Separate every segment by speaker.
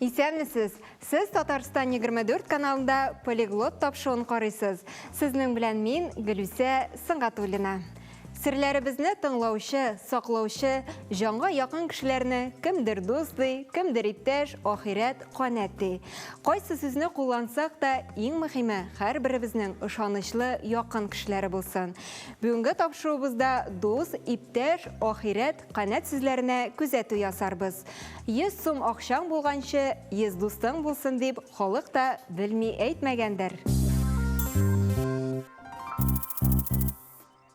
Speaker 1: Исәнмесез! Сез Татарстан 24 каналында полиглот тапшыуын карыйсыз. Сезнең белән мин, Гөлүсә Сыңгатуллина. Серләребезне тыңлаучы, саклаучы, җанга якын кешеләрне кемдер дус ди, кемдер иптәш, ахирәт, канәт ди. Кайсы сүзне куллансак та, иң мөхиме, һәрберебезнең ышанычлы, якын кешеләре булсын. Бүгенге тапшыруыбызда дус, иптәш, ахирәт, канәт сүзләренә күзәтү ясарбыз. 100 сум акчаң булганчы, 100 дустың булсын, дип халык та белми әйтмәгәндер.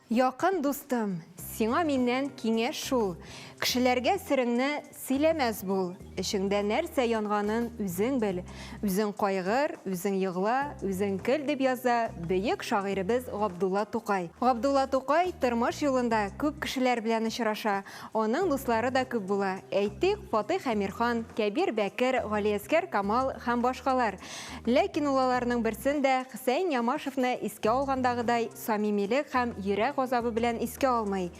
Speaker 1: Якын дустым, сиңа миннән киңәш шул, Кешеләргә сереңне сөйләмәс бул. Эчеңдә нәрсә янганын үзең бел, Үзең кайгыр, үзең егла, үзең көл, дип яза бөек шагыйребез Габдулла Тукай. Габдулла Тукай тормыш юлында күп кешеләр белән очраша, Аның дуслары да күп була. Әйтик, Фатыйх Әмирхан, Кәбир Бәкер, Галиәскәр Камал һәм башкалар. Ләкин ул аларның берсен дә, Хөсәен Ямашевны искә алгандагыдай, самимилек һәм йөрәк газабы белән искә алмый.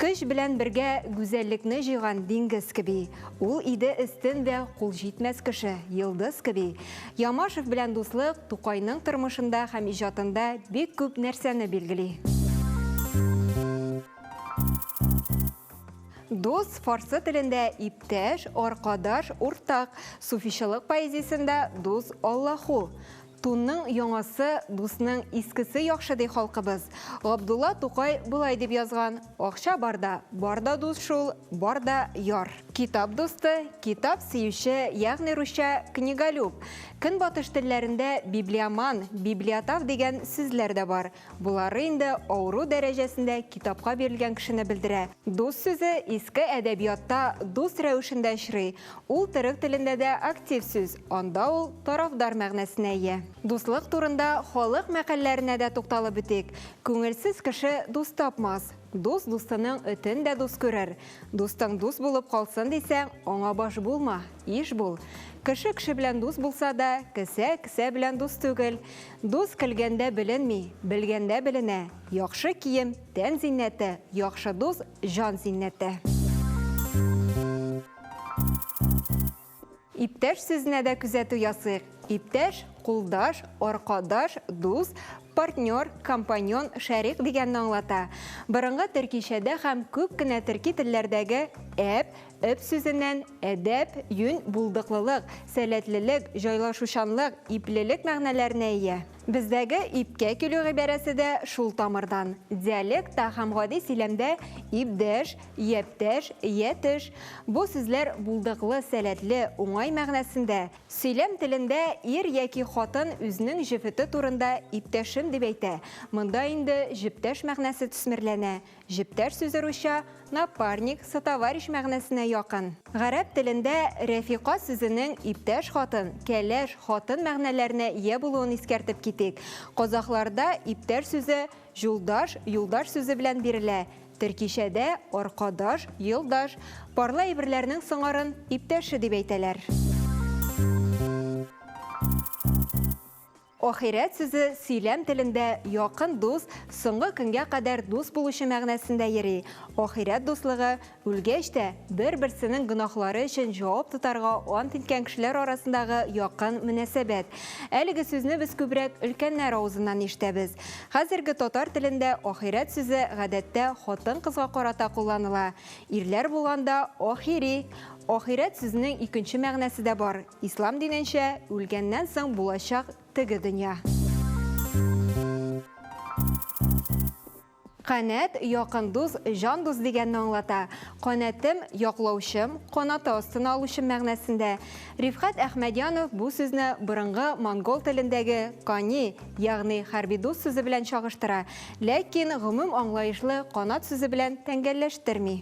Speaker 1: Көч белән бергә гүзәллекне җыйган диңгез кеби. Ул иде өстен дә кул җитмәс кеше, йолдыз кеби. Ямашев белән дуслык Тукайның тормышында һәм иҗатында бик күп нәрсәне билгели. Дус фарсы телендә иптәш, аркадаш, уртак. Суфичылык поэзиясендә дус Аллаху. Тунның яңасы, дусның искесе яхшы ди халкыбыз. Габдулла Тукай болай дип язган, Акча барда, барда дус шул, барда яр. Китап дусты, китап сөюче, ягъни русча книголюб. Көнбатыш телләрендә библиоман, библиотав дигән сүзләр дә бар. Болары инде авыру дәрәҗәсендә китапка бирелгән кешене белдерә. Дус сүзе иске әдәбиятта дус рәвешендә очрый, ул төрек телендә дә актив сүз, анда ул тарафдар мәгънәсенә ия. Дуслык турында халык мәкальләренә дә тукталып үтик. Күңелсез кеше дус тапмас. Дус дустының этен дә дус күрер. Дустың дус булып калсын дисәң, аңа баш булма, иш бул. Кеше кеше белән дус булса да, кесә кесә белән дус түгел. Дус көлгәндә беленми, белгәндә беленә, Яхшы кием, тән зиннәте, яхшы дус, җан зиннәте. Иптәш сүзенә дә күзәтү ясыйк. Иптәш, кулдаш, аркадаш, дус, партнер, компаньон, шәрик дигәнне аңлата. Борынгы төркичәдә һәм күп кенә төрки телләрдәге әп, Эп сүзеннән әдәп, юнь, булдыклылык, сәләтлелек, җайлашучанлык, иплелек мәгънәләренә ия. Бездәге ипкә килү гыйбарәсе дә шул тамырдан. Диалекта һәм гади сөйләмдә ипдәш, япьтәш, ятеш, бу сүзләр булдыклы, сәләтле, уңай мәгънәсендә. Сөйләм телендә ир яки хатын үзенең җефете турында иптәшем дип әйтә, монда инде җептәш мәгънәсе төсмерләнә, Җептәр сүзе русча напарник, сотоварищ мәгънәсенә якын. Гарәп телендә рәфикә сүзенең иптәш хатын, кәләш, хатын мәгънәләренә ия булуын искәртеп китик. Казахларда иптәш сүзе җулдаш, юлдаш сүзе белән бирелә, төркичәдә аркадаш, елдаш, парлы әйберләрнең сыңарын иптәше дип әйтәләр. Ахирәт сүзе сөйләм телендә якын дус, соңгы көнгә кадәр дус булучы мәгънәсендә йөри. Ахирәт дуслыгы, үлгәч тә, бер-берсенең гөнаһлары өчен җавап тотарга ант иткән кешеләр арасындагы якын мөнәсәбәт. Әлеге сүзне без күбрәк өлкәннәр авызыннан ишетәбез. Хәзерге татар телендә ахирәт сүзе гадәттә хатын-кызга карата кулланыла. Ирләр булганда, ахири. Ахирәт сүзенең икенче мәгънәсе дә бар, Ислам диненчә, үлгәннән соң булачак теге дөнья. Канәт, якын дус, җан дус дигәнне аңлата. Канәтем, яклаучым, канаты астына алучым мәгънәсендә. Рифкать Әхмәдянов бу сүзне борынгы монгол телендәге кани, ягъни хәрби дус сүзе белән чагыштыра, ләкин гомум аңлаешлы канат сүзе белән тәңгәлләштерми.